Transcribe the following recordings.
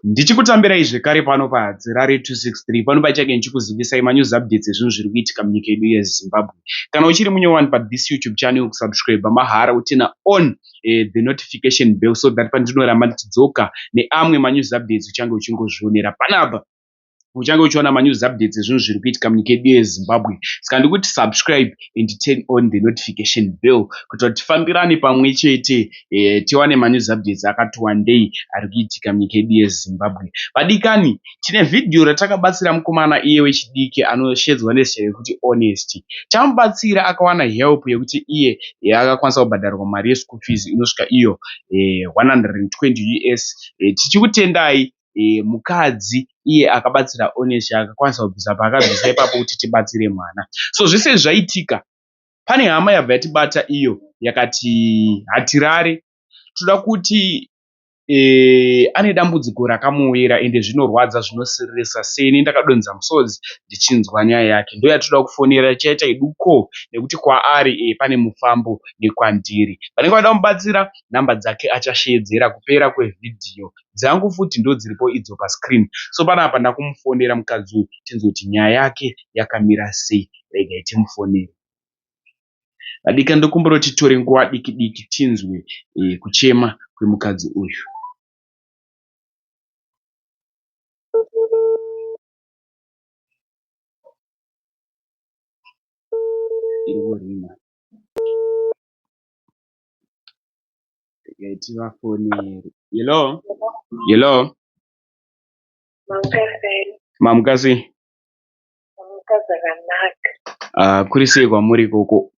Ndichikutambirai zvekare pano pa Harare 263 pano pachake ndichikuzivisai ma news updates ezvinhu zviri kuitika munyika yedu ye Zimbabwe. Kana uchiri munyowani pa this YouTube channel kusubscriber mahara utina on eh, the notification bell so that pandinoramba ndichidzoka neamwe ma news updates uchange uchingozvionera panapa. uchange uchiona manews updates ezvinhu zviri kuitika munyika yedu yezimbabwe saka ndikuti subscribe and turn on the notification bell kuti tifambirane pamwe chete eh, tiwane manews updates akati wandei ari kuitika munyika yedu yezimbabwe vadikani tine vhidhiyo ratakabatsira mukomana iye wechidiki anoshedzwa nezita rekuti honest tamubatsira akawana help yekuti iye eh, akakwanisa kubhadharwa mari yeschool fees inosvika iyo 120 eh, us tichikutendai mukadzi iye akabatsira Onesy akakwanisa kubvisa paakabvisa ipapo kuti tibatsire mwana. So zvese izvi zvaitika pane hama yabva yatibata iyo yakati hatirare toda kuti e, ane dambudziko rakamuwira ende zvinorwadza zvinosiririsa seni ndakadonza musodzi ndichinzwa nyaya yake ndoyatoda kufonera chaita iduko nekuti kwaari e, pane mufambo nekwandiri vanenge vada kumubatsira nhamba dzake achasheedzera kupera kwevhidhiyo dzangu futi ndodziripo idzo pa screen so panapa ndakumufonera mukadzi uyu tinzwe kuti nyaya yake yakamira sei regai timufonere vadikani ndokumbira kuti tore nguva diki diki tinzwe e, kuchema kwemukadzi uyu irworima Ndikaitira foni iri. Hello. Hello. Mamuka sei? Mamuka zvakanaka. Ah, kuri sei kwamuri ikoko?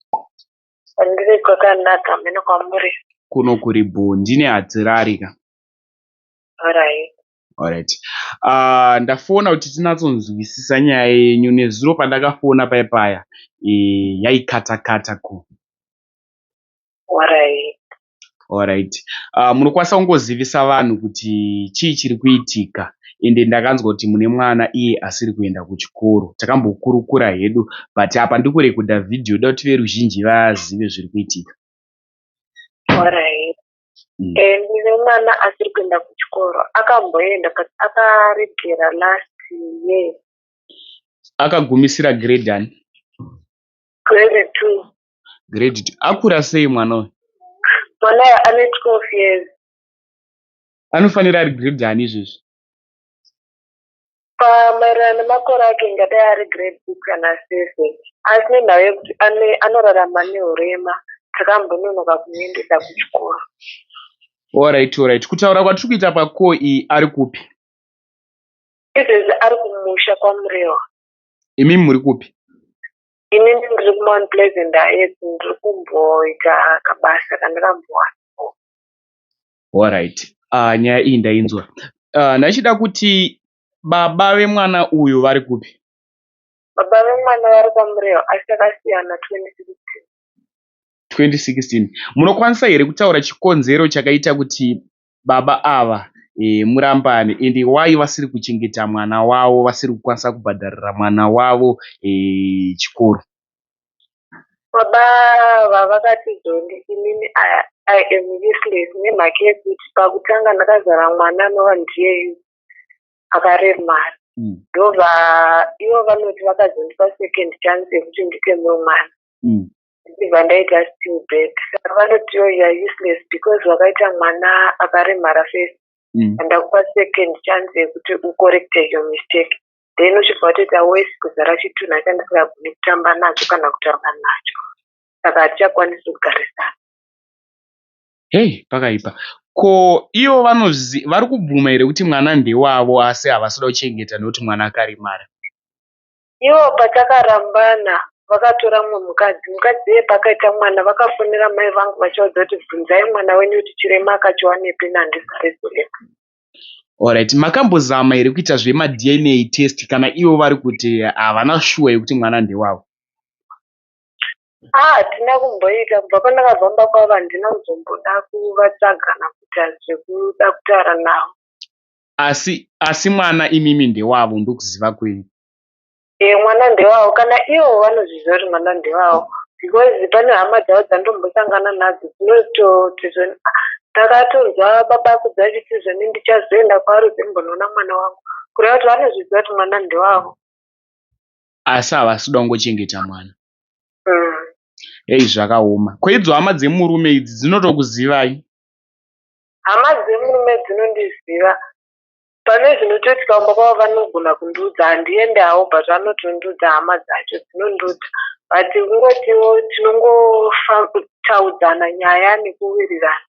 Ndiri kwakanaka, mheno kwamuri. Kuno kuri bhoo, ndine hadzirari ka. Alright. Alright. Ah, ndafona kuti tinatsonzwisisa nyaya yenyu nezuro pandakafona paya paya. Eh, yaikata kata ko. Alright. Alright. Uh, munokwanisa kungozivisa vanhu kuti chii chiri kuitika ende ndakanzwa kuti mune mwana iye asiri kuenda kuchikoro. Takambokurukura hedu but apa ndiri kurekodha vhidhiyo ndoda kuti veruzhinji vazive zviri kuitika. Alright. Mm. Eh, ndine mwana asiri kuenda kuchikoro akamboenda but akaregera last year. Akagumisira grade ani? Grade two. Grade two. Akura sei mwana uyu? Mwana uyu ane 12 years. Anofanira ari grade ani izvezvi? Pamaererano nemakore ake ingadai ari grade six kana seven. Asi nemhaka yekuti ane anorarama nehurema takambononoka kumuendesa kuchikoro. Alright, alright. Kutaura kwatiri kuita pacall iyi ari kupi? Izvezvi ari kumusha kwaMurewa. Imi muri kupi? ini ndiri kumount pleasant ayes ndiri kumboita kabasa kandakambowana alright uh, nyaya iyi ndainzwa uh, ndachida kuti baba vemwana uyu vari kupi baba vemwana vari kwamureo asi akasiyana 2016 2016 munokwanisa here kutaura chikonzero chakaita kuti baba ava murambane ende why vasiri kuchengeta mwana wavo vasiri kukwanisa kubhadharira mwana wavo chikoro baba ava vakati zondi inini i am useless nemhaka yekuti pakutanga ndakazara mwana anova ndiyeyu akaremara mm. ndova ivo vanoti vakazondipa second chance yekuti nditemwe mwana mm. ndichibva ndaita still bed saka vanoti yo you're useless because wakaita mwana akaremara face Mm. ndakupa second chance yekuti ucorrecte your mistake then uchibva watoita wes kuzara chitunha chandisingagoni kutamba nacho kana kutaura nacho saka hatichakwanisi kugarisana Hey, pakaipa. Ko ivo vanozi vari kubvuma here kuti mwana ndewavo asi havasi kuda kuchengeta nekuti mwana akaremara. Ivo patakarambana vakatora mumwe mukadzi mukadzi iye paakaita mwana vakafonera mai vangu vachivaudza kuti bvunzai mwana wenyu kuti chirema akachiwanepi nandisa rezorepa Alright, makambozama here kuita zvemadna test kana ivo vari kuti havana shuwa yekuti mwana ndewavo? Ah, hatina kumboita kubva pandakazomba kwavo handina kuzomboda kuvatsvaga kana kuita zvekuda kutaura navo. Asi asi mwana imimi ndewavo ndokuziva kwenyu. Eeh mwana ndewavo kana ivo vanozviziva kuti mwana ndewavo because pane hama dzavo dzandombosangana nadzo dzinototi zvoni ah ndakatonzwa baba akudza achiti zvoni ndichazoenda kwaari uzombonoona mwana wangu kureva kuti vanozviziva kuti mwana ndewavo. Asi havasi kuda kungochengeta mwana. Umm. Heyi zvakaoma. Ko idzo hama dzemurume idzi dzinotokuzivai? Hama dzemurume dzinondiziva pane zvinotoitika kumba kwavo vanogona kundiudza handiende havo but vanotondiudza hama dzacho dzinondiudza but kungotiwo tinongotaudzana nyaya nekuwirirana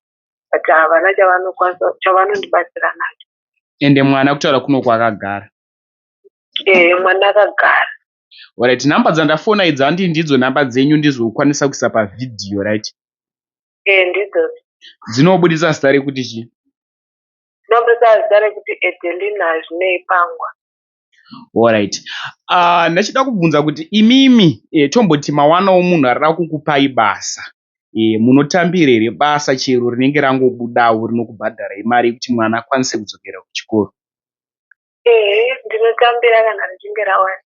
but havana chavanokwanisa chavanondibatsira nacho ende mwana kutaura kuno kwakagara ee mwana akagara Alright, number dzandafona idzi handi ndidzo number dzenyu ndizokwanisa kuisa pavhidhiyo right? Eh ndidzodzo. Dzinobudisa zita rekuti chii? Dzinobudisa zita rekuti Edelina Zvinei Pangwa. Alright. Uh, ndachida kubvunza kuti imimi eh, tomboti mawanawo munhu arira kukupai basa eh, munotambira here basa chero rinenge rangobudawo rinokubhadharai mari yekuti mwana akwanise kudzokera kuchikoro? Ehe, ndinotambira kana richinge rawana.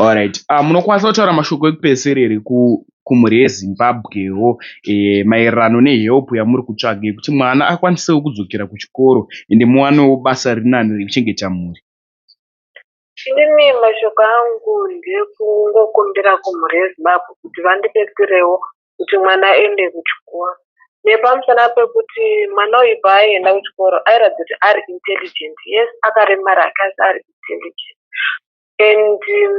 Alright ah munokwanisa kutaura mashoko ekupedzisira here kumhuri yeZimbabwewo eh, maererano nehelp yamuri kutsvaga yekuti mwana akwanisewo kudzokera kuchikoro ende muwanewo basa rinani rekuchengeta mhuri? Inini mashoko angu ndekungokumbira kumhuri yeZimbabwe kuti vandibetserewo kuti mwana aende kuchikoro nepamusana pekuti mwana uyu paaienda kuchikoro airatidza kuti ari intelligent yes akaremara ake asi ari intelligent and um,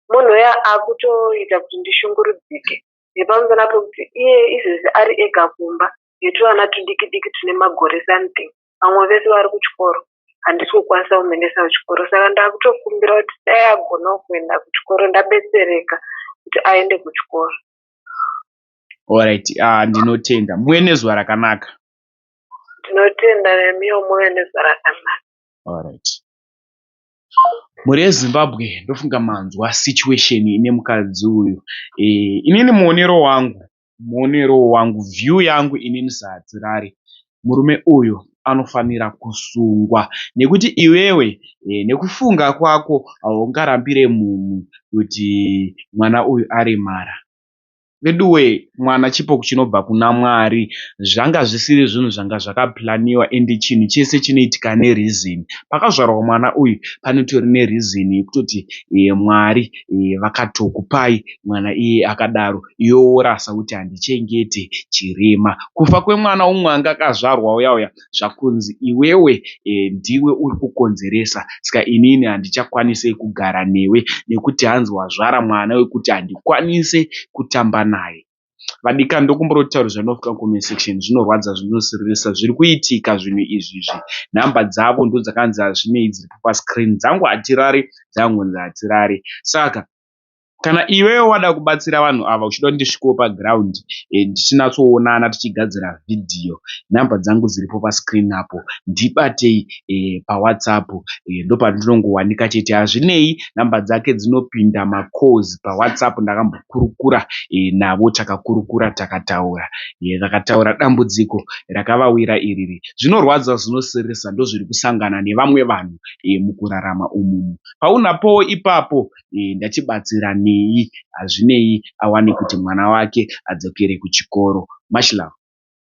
munhu uya akutoita kuti ndishungurudzike nepamusana pekuti iye izvezvi ari ega kumba netuvana tudiki diki tune magore something vamwe vese vari kuchikoro handisi kukwanisa kumuendesa kuchikoro saka ndakutokumbira kuti dai agonawo kuenda kuchikoro ndabetsereka kuti aende kuchikoro orit uh, ah, ndinotenda muve nezuva rakanaka ndinotenda nemiwo muve nezuva rakanaka orit Mhuri yeZimbabwe ndofunga manzwa situation ine mukadzi uyu. Eh, inini muonero wangu, muonero wangu, view yangu inini saHadzirari, murume uyu anofanira kusungwa nekuti iwewe eh, nekufunga kwako haungarambire munhu kuti mwana uyu aremara. Veduwee mwana chipo chinobva kuna Mwari zvanga zvisiri zvinhu zvanga zvakaplaniwa and chinhu chese chinoitika ne reason. Pakazvarwa mwana uyu panotori ne reason yekutoti Mwari vakatokupai mwana iyeye akadaro iwe worasa woti handichengete chirema. Kufa kwemwana umwe anga akazvarwa uya uya. zvakunzi iwewe ndiwe uri kukonzeresa ska inini handichakwanise kugara newe nekuti hanzi wazvara mwana wekuti handikwanise kutamba naye. Vadikani ndokumboda kutaura zvanofka mucomment section zvinorwadza zvinosiririsa zviri kuitika zvinhu izvi izvi number dzavo ndodzakanzi hazvinei dziripo pascreen dzangu hatirare dzangonzi hatirare saka Kana iwewe wada kubatsira vanhu ava uchida kuti ndisvikewo paground eh, tichinatsoonana tichigadzira vhidhiyo, nhamba dzangu dziripo pascreen apo, ndibatei eh, pawhatsapp eh, ndopandinongowanika chete. Hazvinei, nhamba dzake dzinopinda macalls pawhatsapp, ndakambokurukura eh, navo, takakurukura, takataura eh, vakataura dambudziko rakavawira iriri. Zvinorwadza, zvinosiririsa ndozviri kusangana nevamwe vanhu eh, mukurarama umumu. Paunapowo ipapo eh, ndachibatsira nei hazvinei awane kuti mwana wake adzokere kuchikoro much love.